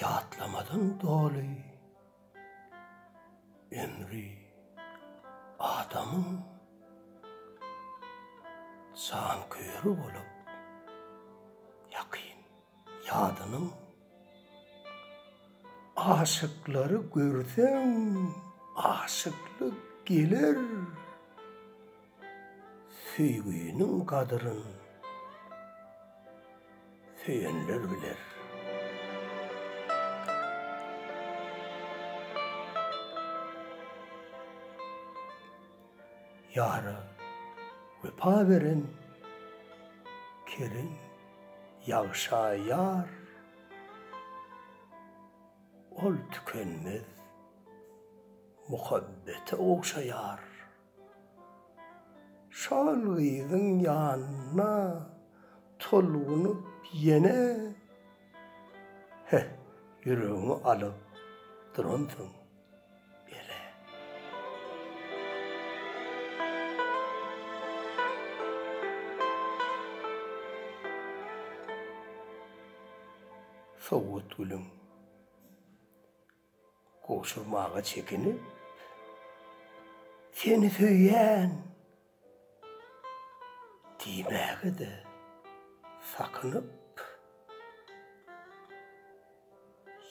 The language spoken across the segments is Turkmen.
Ýatlamadan doly ömri adamyň janköýeri bolup ýakyn. Ýadynyň aşyklary görseň aşyklyk geler Söýginiň gadyryn söýenler biler. Ýara wepa beren Kerim ýagşa ýar Ol tükenmez muhabbete ogşaýar Şol gyzyň ýanyna tolgunyp ýene Heh ýüregiňi alyp duransyň. Ere. Sowgatgülüň gowşurmaga çekinip, Seni söýýän diýmäge-de sakynyp,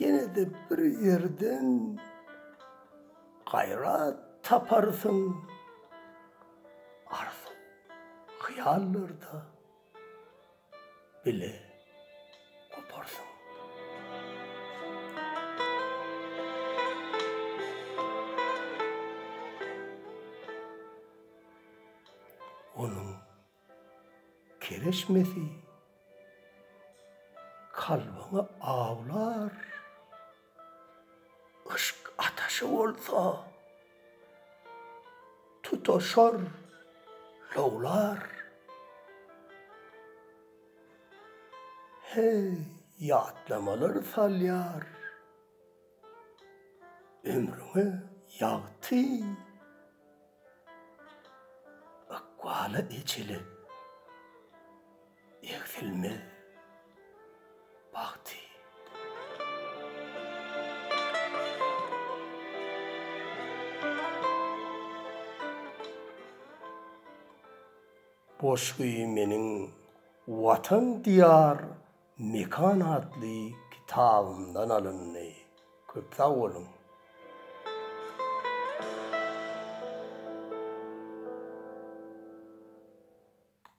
ýene-de bir ýerden gaýrat taparsyň arzuw-hyýallarda. bile goparsyň. Onuň kereşmesi kalbyňy awlar. Yşk ataşy bolsa tutaşar, lowlar. Heý, ýatlamalar salýar ömrüňe ýagty. Ykbala ejeli egsilmez bagty. Goşgy meniň Watan Diýar Mekan atly kitabymdan alyndy. Köp sag boluň!